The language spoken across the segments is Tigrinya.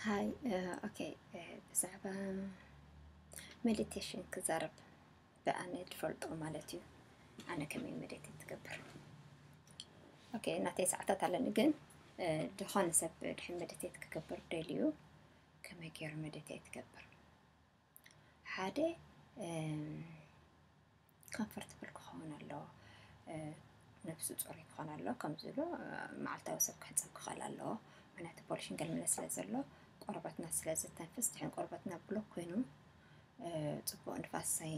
ሃይ ኦኬ ብዛዕባ ሜዲቴሽን ክዛረብ ብኣነ ትፈልጦ ማለት እዩ ኣነ ከመይ ሜዲቴት ትገብር ኦኬ እናተይ ሰዓታት ኣለኒ ግን ድኾነ ሰብ ድሕን ሜዲቴት ክገብር ደልዩ ከመይ ገይረ መደተይ ትገብር ሓደ ኮምፈርትብል ክኸውን ኣለዎ ነብሱ ፅሩይ ክኾን ኣለዎ ከምዚ ኢሉ መዓልታዊ ሰብ ክሕፀብ ክኽእል ኣለዎ ምክንያቱ ፖሊሽን ገልመለ ስለ ዘሎ ቆርበትና ስለ ዝተንፍስ ድሕን ቆርበትና ብሎክ ኮይኑ ፅቡቅ ንፋስ ሳይ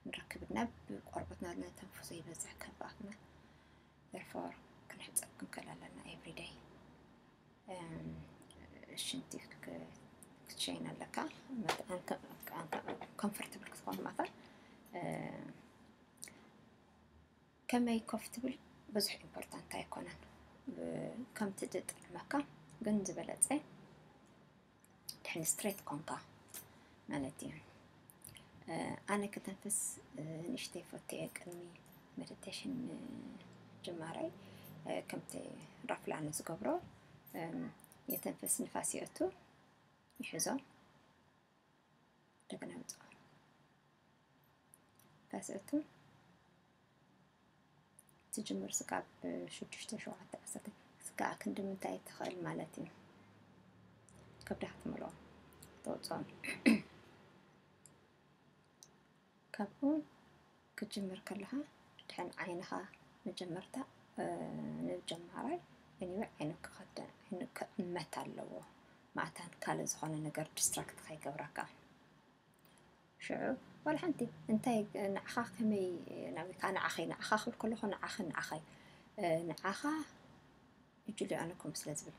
ንረክብና ብቆርበትና ነተንፍሶ ይበዝሕ ከባትና ደርፎር ክንሕፀብ ክንክእል ኣለና ኤቭሪደይ ሽንቲ ክትሸይን ኣለካ ኮምፈርትብል ክትኾን ማታ ከመይ ኮፍትብል ብዙሕ ኢምፖርታንት ኣይኮነን ከምቲ ዝጥዕመካ ግን ዝበለፀ ድሕን ስትሬት ኮንካ ማለት እዩ ኣነ ከተንፍስ ንእሽተይ ፈትየ ቅድሚ ሜዲቴሽን ጅማረይ ከምቲ ራፍላ ኣነ ዝገብሮ የተንፍስ ንፋስ ይእቱ ይሕዞ እንደገና ይውፅኦ ንፋስ ይእቱ ትጅምር ስጋብ ሽዱሽተ ሸውዓተ ዓሰርተ ስጋኣ ክንዲ ምንታይ ትኽእል ማለት እዩ ከብዳ ክትምልኦ ተወፅኦም ካብኡ ክትጅምር ከለኻ ድሕን ዓይንኻ መጀመርታ ንጀማራይ እኒወ ዓይኑ ክኸደ ዓይኑ ክዕመት ኣለዎ ማእታን ካልእ ዝኾነ ነገር ዲስትራክት ከይገብረካ ሽዑ ዋላ ሓንቲ እንታይ ንዓኻ ከመይ ናብካ ንዓኸይ ንዓኻ ክብል ከለኹ ንዓኽን ንዓኸይ ንዓኻ እጅሉ ኣነኩም ስለ ዝብል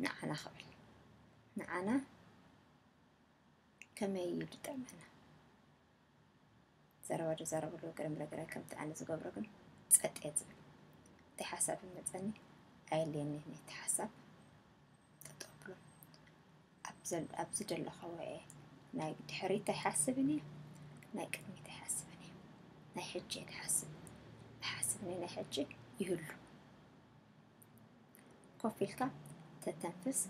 ንዓና ክብል ንዓና ከመይ እዩ ዝጠመና ዘረባ ዝዛረበሉ ገለ ምለገለ ከምቲ ኣነ ዝገብሮ ግን ጸጥ እየ ዝብል። እቲ ሓሳብ ይመጸኒ ኣየድልየኒ ነቲ ሓሳብ ጠጠው ኣብሎ። ኣብ ዝደለኻዎ'የ ናይ ድሕሪት ኣይሓስብን እየ ናይ ቅድሚት ኣይሓስብን እየ ናይ ሕጂ እየ ዝሓስብ ዝሓስብ ናይ ሕጂ ይህሉ ኮፍ ኢልካ ተተንፍስ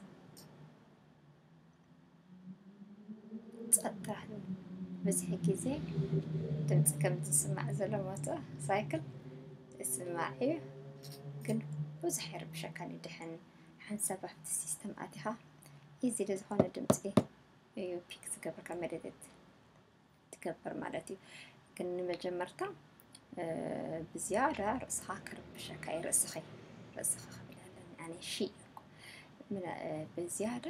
ጸጥታ ህብ ብዝሒ ግዜ ድምጺ ከምዚ ዝስማዕ ዘሎ ሞተር ሳይክል ይስማዕ እዩ ግን ብዙሕ ኣይርብሸካን እዩ ድሕን ሓንሳብ ኣብቲ ሲስተም ኣቲኻ ኢዚሊ ዝኾነ ድምጺ እዩ ፒክ ዝገብረካ መደደት ትገብር ማለት እዩ ግን ንመጀመርታ ብዝያዳ ርእስኻ ክርብሸካ እዩ ርእስኺ ርእስኻ ክብል ኣለኒ ኣነ ሺ እኮ ብዝያዳ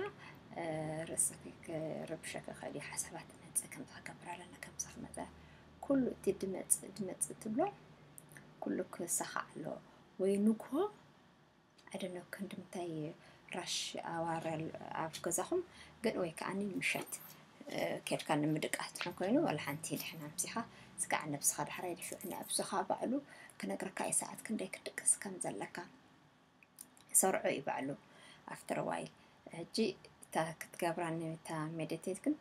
ርእስኺ ክርብሸካ ይኽእል እዩ ሓሳባት መፅእ ከምዚ ክገብር ኣለና ከምዚ ክመፀ ኩሉ እቲ ድመፅእ ድመፅእ ትብሎ ኩሉ ክሳኻዕ ኣለዎ ወይ ንግሆ ኣይደኖ ክንድምታይ ራሽ ኣዋር ኣብ ገዛኹም ግን ወይ ከዓኒ ምሸት ኬድካ ንምድቃስ ድሕን ኮይኑ ዋላ ሓንቲ ድሕን ኣምሲኻ ስጋዕ ነብስኻ ዳሕራይ ድሕሪ ነብስኻ ባዕሉ ክነግረካ እዩ ሰዓት ክንደይ ክትድቅስ ከም ዘለካ ሰርዖ እዩ ባዕሉ ኣፍተር ዋይል ሕጂ እታ ክትገብራ እታ ሜዲቴት ግን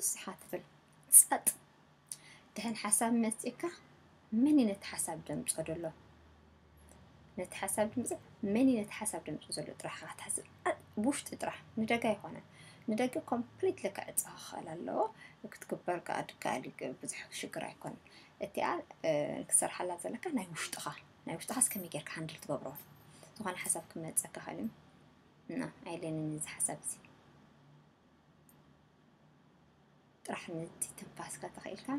እስኻ ትብል ጸጥ ድሐን ሐሳብ መጺካ መን እዩ ነቲ ሐሳብ ደምጾ ደሎ ነቲ ሐሳብ ድምጽ መን እዩ ነቲ ሐሳብ ደምጾ ዘሎ ጥራሕ ኢኻ ክትሓስብ ብውሽጢ ጥራሕ ንደገ ኣይኮነን ንደገ ኮምፕሊትሊ ክዕጸ ክኽእል ኣለዎ ክትግበር ከኣ ድካኣል ብዙሕ ሽግር ኣይኮነን እቲኣ ክትሰርሓላ ዘለካ ናይ ውሽጥኻ ናይ ውሽጥኻ እስከመይ ጌርካ ሃንድል ትገብሮ ዝኾነ ሓሳብ ክመፀካ ኸልዩ እና ኣይለንን እዚ ሓሳብ እዚ ጥራሕ ንቲ ትንፋስካ ተኸኢልካ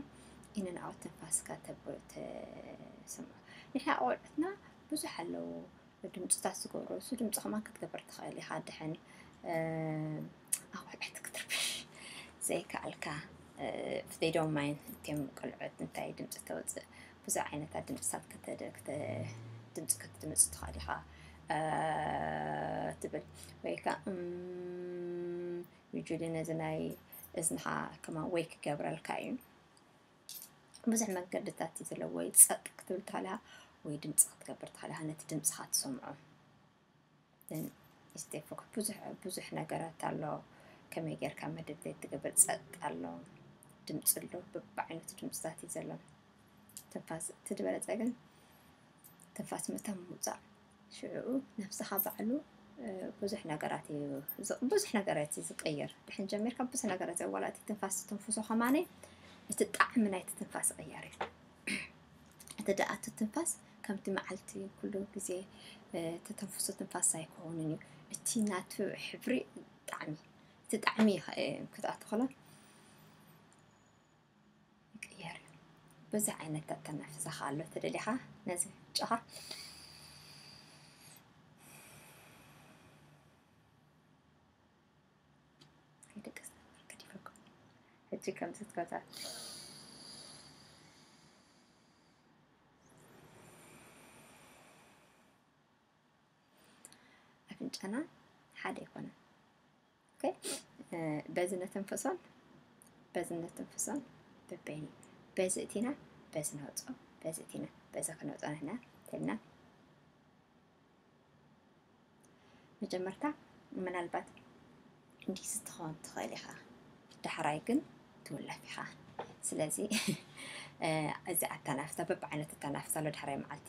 ኢንን ኣውት ትንፋስካ ተብሎ ተሰምዖ ንሕና ቆልዑትና ብዙሕ ኣለዉ ድምፅታት ዝገብሩ እሱ ድምፂ ከማን ክትገብር ትኽእል ኢኻ ድሕን ኣቑሑት ክትርብሽ ዘይከኣልካ ፍደይ ዶን ማይን እትም ቆልዑት እንታይ ድምፂ ተወፅእ ብዙሕ ዓይነታት ድምፅታት ድምፂ ክትድምፅ ትኽእል ኢኻ ትብል ወይከ ዩጅሊ ነዚ ናይ እዝንኻ ከማን ወይ ክገብረልካ እዩ ብዙሕ መንገድታት እዩ ዘለዎ ወይ ጸጥ ክትብል ተኸለኻ ወይ ድምፂ ክትገብር ተኸለኻ ነቲ ድምፅኻ ትሰምዖ ስቴፎክ ብዙሕ ብዙሕ ነገራት ኣሎ ከመይ ጌርካ መድብት ትገብር ጸጥ ኣሎ ድምፂ ኣሎ በብዓይነቱ ድምፅታት እዩ ዘሎ ትንፋስ እቲ ዝበለፀ ግን ትንፋስ ምእታው ምውፃእ ሽዑኡ ነብስኻ ባዕሉ ብዙሕ ነገራት እዩ ብዙሕ ነገራት እዩ ዝቀየር ድሕን ጀሚርካ ብዙሕ ነገራት እዩ ዋላ እቲ ትንፋስ ትንፍሶ ከማነ እቲ ጣዕሚ ናይቲ ትንፋስ ይቕየር እዩ እቲ ደኣ እቲ ትንፋስ ከምቲ መዓልቲ ኩሉ ግዜ ተተንፍሶ ትንፋስ ኣይኮንን እዩ እቲ ናቱ ሕብሪ ጣዕሚ እቲ ጣዕሚ ክትኣትኸሎ ይቅየር እዩ ብዙሕ ዓይነት ኣተናፍዛ ከኣ ኣሎ ተደሊኻ ነዚ ጨኻ ደቂ ሰባት በርከት ይፈኩ ሕጂ ከምዚ ትገብታ ኣፍንጫና ሓደ ኣይኮነን ኦኬ በዚ ነተንፈሶን በዚ ነተንፈሶን በበይኒ በዚ እቲና በዚ ነውፅኦ በዚ እቲና በዚ ክነውፅኦ ንሕና ተልና መጀመርታ ምናልባት እንዲህ ስትኾን ትኽእል ኢኻ ዳሕራይ ግን ትውለፍ ኢኻ ስለዚ እዚ ኣተናፍሳ በብዓይነት ኣተናፍሳ ኣሎ ዳሕራይ መዓልቲ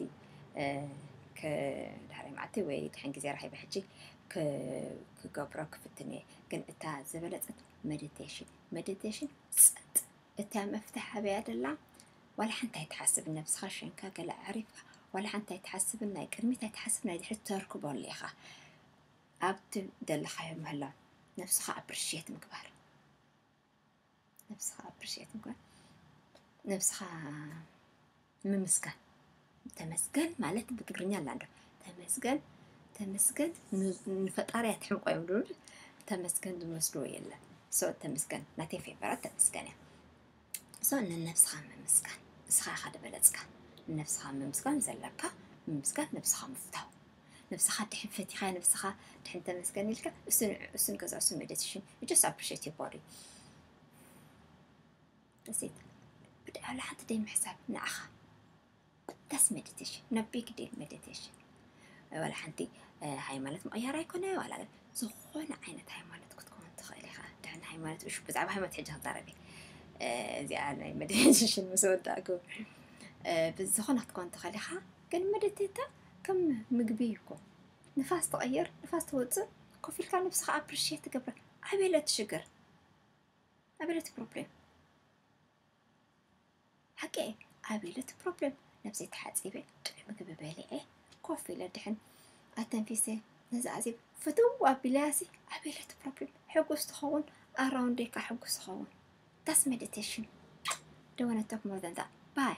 ዳሕራይ መዓልቲ ወይ ድሕን ግዜ ረኺበ ሕጂ ክገብሮ ክፍትን እየ ግን እታ ዝበለጸት መዲቴሽን መዲቴሽን ጸጥ እታ መፍትሒ ኣበያ ደላ ዋላ ሓንቲ ኣይትሓስብ ነብስኻ ሸንካ ገለ ኣዕሪፍካ ዋላ ሓንቲ ኣይትሓስብን ናይ ቅድሚት ኣይትሓስብ ናይ ድሕሪት ተርክበሉ ኢኻ ኣብቲ ዘለኻዮ ምህላው ነብስኻ ኣፕሪሽት ምግባር ነብስኻ ኣፕሪሼት ምግባር ነብስኻ ምምስጋን ተመስገን ማለት ብትግርኛ ኣላ ዶ ተመስገን ተመስገን ንፈጣሪ ኣትሕምቆ እዮም ድብል ተመስገን ዝመስልዎ የለን ሶ ተመስገን ናተይ ፌቨራት ተመስገን እያ ሶ ንነብስኻ ምምስጋን ንስኻ ኢኻ ዝበለፅካ ንነብስኻ ምምስጋን ዘለካ ምምስጋን ነብስኻ ምፍታው ንብስኻ ድሕን ፈቲኻያ ንብስኻ ድሕን ተመስገን ኢልካ እሱን እሱን ገዛ እሱን መደትሽን you just appreciate your body that's it ብድዓ ለሓንቲ ደይ ምሕሳብ ንዓኻ that's meditation no big deal meditation ወላ ሓንቲ ሃይማኖት ምቕያር ኣይኮነ ዋላ ግን ዝኾነ ዓይነት ሃይማኖት ክትከውን ትኽእል ኢኻ ድሕን ሃይማኖት እሹ ብዛዕባ ሃይማኖት ሕጂ ክዛረብ እዚኣ ናይ መድሽን ምስ ወዳእኩ ብዝኾነ ክትከውን ትኽእል ኢኻ ግን መደተታ ከም ምግቢ እዩ እኮ ንፋስ ትቐይር ንፋስ ትወፅእ ኮፍ ኢልካ ንብስኻ ኣፕሪሼት ትገብር ኣበለ እቲ ሽግር ኣበለ እቲ ፕሮብሌም ሓቂ እየ ኣበለ እቲ ፕሮብሌም ነብሰይ ተሓፂበ ጥዑይ ምግቢ በሊዐ ኮፍ ኢለ ድሕን ኣተንፊሰ ነዚ ኣዜብ ፍትው ኣቢለያሲ ኣበለ እቲ ፕሮብሌም ሕጉስ ትኸውን ኣራውንደይ ከዓ ሕጉስ ይኸውን ዳስ ሜዲቴሽን ደወነቶክ ሞር ዛን ዛት ባይ